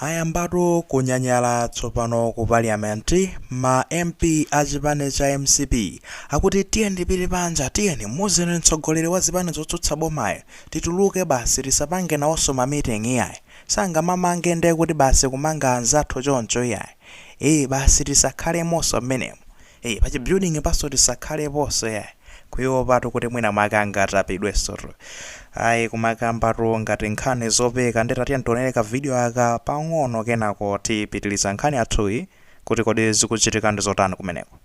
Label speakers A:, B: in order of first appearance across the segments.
A: Ayambatu kunyanyala tsopano ku parliament ma MP a chipani cha mcp akuti tiyeni tipite panja tiyeni muuzeni mtsogoleri wa zipani zotsutsa bomayo tituluke basi tisapange nawonso ma meeting iyayi sangamamange ndekuti basi kumanga anzathu choncho iyayi ee basi tisakhalemoso mmenemo Eee pa chi building panso tisakhaleponso yayi. Kuopatu kuti mwina mwake angatapidwensotu. Ayi kumakambatu ngati nkhani zopeka nde tatiyeni tionere ka video aka pang'ono kenako tipitiriza nkhani yathuyi kuti kodi zikuchitika ndi zotani kumeneko.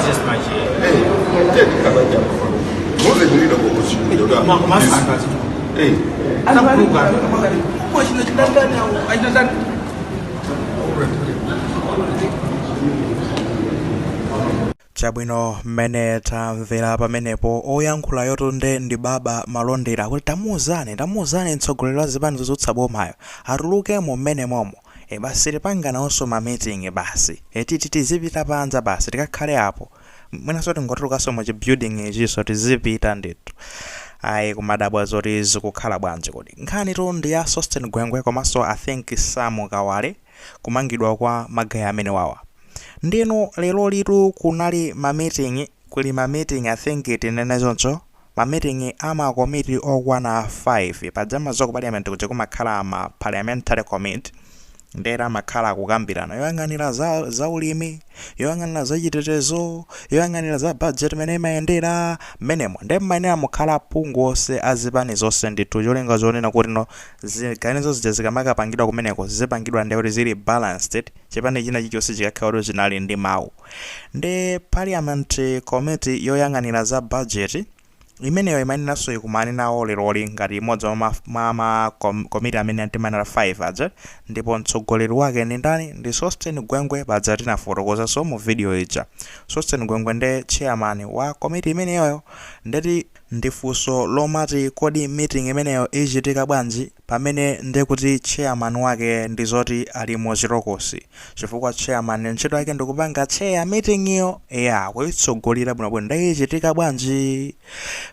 A: Hey, take it, Kabanja. Mose, you need a book. You need a book. chabwino mmene tamvera pamenepo oyankhulayotu nde ndi baba malondera akuti tamuuzani tamuuzani mtsogoleri wa zipani zotsutsa bomayo atulukemo mmenemomo e basi tipanga nawonso mamiting basi etiti tizipita panja basi tikakhale apo mwinanso tingotulukanso mu chi building ichinso tizipita ndithu ayi kumadabwa zoti zikukhala bwanji kodi nkhanitu ndi ya sosten gwengwe komanso i think samu kawale kumangidwa kwa magaye amenewawa nde inu lerolitu kunali ma meeting kuli ma meeting i think tinene choncho Mamiting a makomiti okwana 5. Paja mumadziwa ku Parliament kuja kumakhala ma Parliamentary Committee ndiye amakhala akukambirana. Yoyang'anira za zaulimi, yoyang'anira zachitetezo, yoyang'anira za budget mmene imayendera, mmenemo. Ndiye mumayenera mukhale aphungu onse a zipani zonse ndithu cholinga chonena kuti no ziganizo zija zikamakapangidwa kumeneko zizipangidwa ndiye kuti zili balanced, chipani china chilichonse chikakhala kuti chinali ndi mawu. Ndi Parliament Committee yoyang'anira za Budget, imeneyo imayeneranso ikumane nawo leroli ngati imodzi mwa ma, mwa ma kom, komiti amene timanena 5 aja, ndipo mtsogoleri wake ndi ndani? Ndi Sosten Gwengwe paja tinafotokozanso mu video ija. Sosten Gwengwe nde Chairman wa komiti imeneyoyo. Nde ndi funso lomati kodi meeting imeneyo ichitika bwanji? pamene nde kuti chairman wake ndi zoti ali mu chirokosi chifukwa chairman ntchito yake ndikupanga chair meeting yo eya kuitsogolera bwinobwino nde ichitika bwanji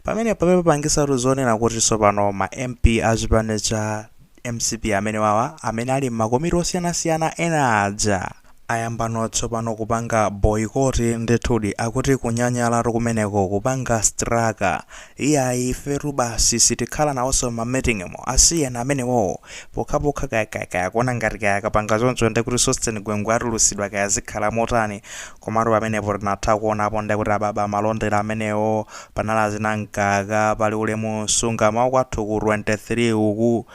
A: pamenepa papangitsatu zonena kuti tsopano ma mp a chipani cha mcp amenewawa amene ali m'makomiti osiyanasiyana ena aja Ayambano tsopano kupanga boyikoti ndithudi akuti kunyanyalatu kumeneko kupanga strike iyayi ifetu basi sitikhala nawoso mma meeting mo asiyeni amenewowo pokhapokha kaya kaya kaya akuona ngati kaya akapanga choncho ndekuti Sosten Gwengwe atulusidwa kaya zikhala motani komatu pamenepo tinatha kuonapo ndekuti a Baba Malondera amenewo panali achina Mkaka pali Ulemu Msungama wa kwathu ku 23 uku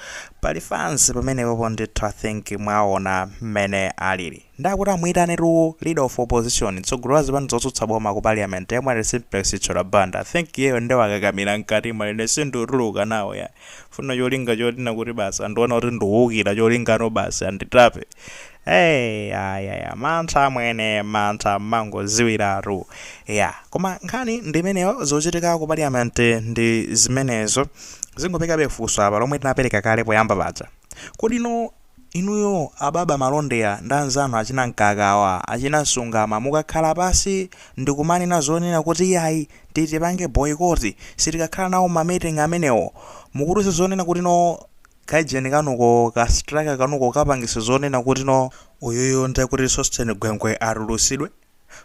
A: Pali fans pamenepopo ndithu I think mwaona mmene alili. Nde akuti amuitanetu leader of opposition, mtsogoleri wa zipani zotsutsa boma ku parliament yemwe ali Simplex Chithyola Banda. I think iyeyo nde wakakamira mkatimo ine sindutuluka nawo yayi. Mfuna cholinga chonena kuti basi andiona kuti ndikuukira cholinga no basi anditape. Hey, ya, ya, ya. mantha amwene mantha mmangoziwiratu ya koma nkhani ndi imeneyo zochitika ku parliament ndi zimenezo zingopatsabe funso apa lomwe tinapereka kale poyamba paja kodi no inuyo a Baba Malondera ndi anzanu achina Mkakawa achina Msungama mukakhala pasi ndikumanena zonena kuti iyayi titipange boyikoti sitikakhala nawo mamiting amenewo mukuti ise zonena kuti no Kaujeni kanuko, ka strike kanuko kapangisa zonena kuti no uyuyu nde kuti Sosten Gwengwe atulutsidwe?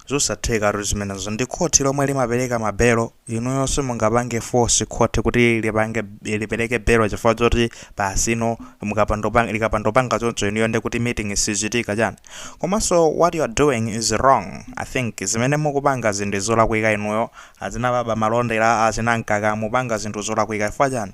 A: Zosathekatu zimenezo. Ndi khoti lomwe limapereka ma belo, inuyo simungapange force khoti kuti lipereke belo chifukwa choti basi no likapandopanga choncho inuyo nde kuti meeting sichitika chani? Komanso what you are doing is wrong. I think zimene mukupangazi ndi zolakwika inuyo, achina Baba Malondera, achina Mkaka mupanga zinthu zolakwika chifukwa chani?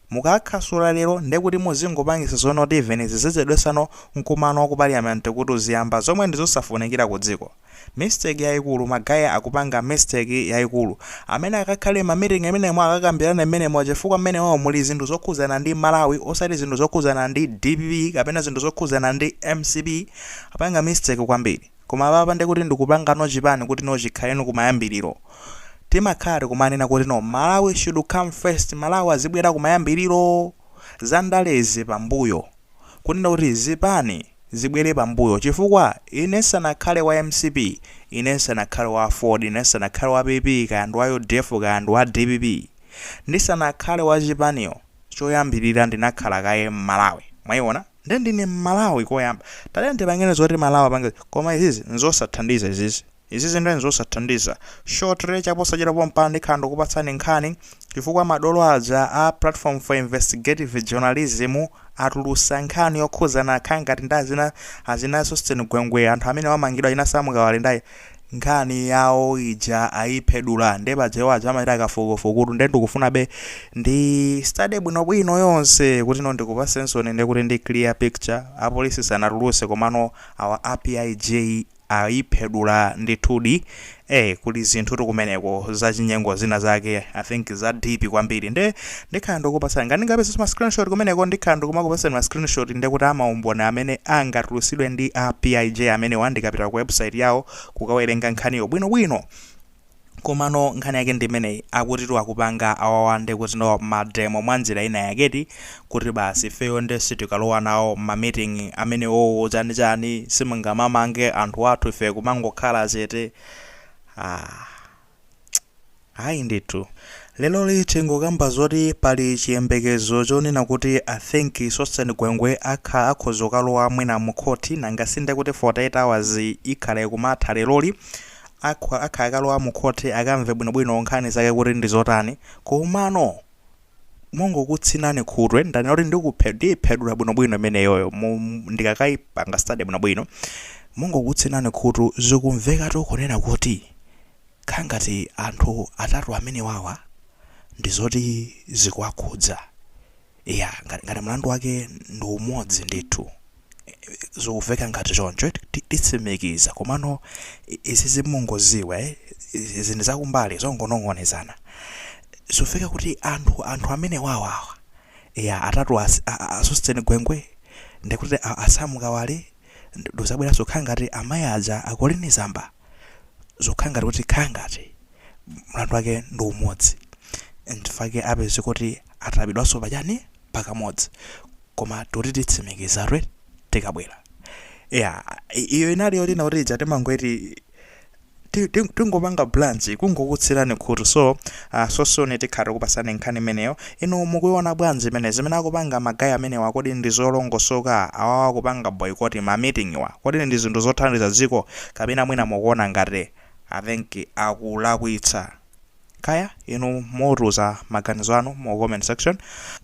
A: Mukaasula lero ndekuti muzingopangisa zonoti even zizichedwesa no nkumano wa ku parliament kuti uziyamba zomwe ndizosafunikira ku dziko. Mistake yaikulu ma guy akupanga mistake yaikulu. Amene akakhale mma meeting imenemo akakambirane mmenemo chifukwa mmenemo muli zinthu zokhuzana ndi Malawi osati zinthu zokhuzana ndi DPP kapena zinthu zokhuzana ndi MCP. Apanga mistake kwambiri. Koma apapa nde kuti ndikupanga no chipani kuti no chikhale no kumayambiliro. Timakhala tikumanena kuti no Malawi should come first, Malawi azibwera kumayambiliro, za ndalezi pambuyo. Kunena kuti zipani zibwere pambuyo chifukwa ine nsanakhale wa MCP, ine nsanakhale wa AFORD, ine nsanakhale wa PP kaya ndi wa UDF kaya ndi wa DPP, ndisanakhale wa chipaniyo choyambilira ndinakhala kaye Mmalawi. Mwayiona? Nde ndine Mmalawi koyamba. Tatiyeni tipangeni zoti Malawi apange koma izizi nzosathandiza izizi. Izizi nde nzosathandiza. Shortly chaposachedwa pompano ndikhala ndikupatsani nkhani chifukwa madolo aja a Platform for Investigative Journalism atulusa nkhani yokhuzana akhala ngati ndi azina azina Sosten Gwengwe anthu amene amangidwa achina Sam Kawale ndi nkhani yawo ija ayiphedula nde paja iwo aja amachita kafukufukutu nde ndikufunabe ndi study bwinobwino yonse kuti no ndikupatseninsoni nde kuti ndi clear picture apolisi sanatuluse komano awa a PIJ ayiphedula ndithudi eh kuli zinthutu kumeneko zachinyengo zina zake I think za deep kwambiri nde Ndikhala ndikupatsani. Ngati ndingapezenso ma screenshot kumeneko ndikhala ndikumakupatsani ma screenshot nde kuti a maumboni amene angatulutsidwe ndi a PIJ amenewa ndikapita ku website yawo kukawerenga nkhaniyo bwinobwino. Komano nkhani yake ndi imeneyi, akutitu akupanga awawa nde kuti no ma demo mwa njira ina yakedi kuti basi ifeyo nde sitikalowa nawo mma meeting amenewowo chanichani simungamamange anthu athu ife kumangokhala chete aah. Ayi ndithu. Leroli tingokamba zoti pali chiyembekezo chonena kuti I think Sosten Gwengwe akho akhoza kukalowa mwina mu court nanga si nde kuti 48 hours ikhala ikumatha leroli akho akha akalowa mu court akamve bwinobwino nkhani zake kuti ndi zotani komano mongokutsinani khutu ndanena kuti ndikuphe ndiyiphedula bwinobwino imeneyoyo mu ndikakaipanga study bwinobwino mongokutsinani khutu zikumvekatu kunena kuti kha ngati anthu atatu amenewawa ndi zoti zikuwakhudza iya ngati, ngati mlandu wake ndi umodzi ndithu. zikumveka ngati choncho eti, ti- titsimikiza komano i- izizi mungodziwa eh, izi izi ndi zakumbali zongonong'onezana zikumveka kuti anthu anthu amenewawa ya atatu as- a- a- a Sosten Gwengwe ndikuti a- a Sam Kawale ndikudzabwera zokhala ngati amayi aja a Colleen Zamba zokhala ngati kuti khala ngati mlandu wake ndi umodzi nchifukwa chake apezeka kuti atapidwanso pachani pakamodzi koma toti titsimikiza twe tikabwera ya i- iyo inali yolina kuti ija timangoti ti- ti- tingopanga blanji kungokutsinani khutu so uh, so soon tikhala tikukupatsani nkhani imeneyo inu mukuiona bwanji imene zimene akupanga ma guy amenewa kodi ndi zolongosoka awawa akupanga boycott ma meeting wa kodi ndi zinthu zothandiza dziko kapena mwina mukuona ngati i think akulakwitsa Kaya inu mutiuza maganizo anu mu comment section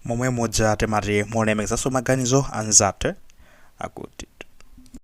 A: momwemuja timati muzilemekezanso maganizo anzathu akutitu.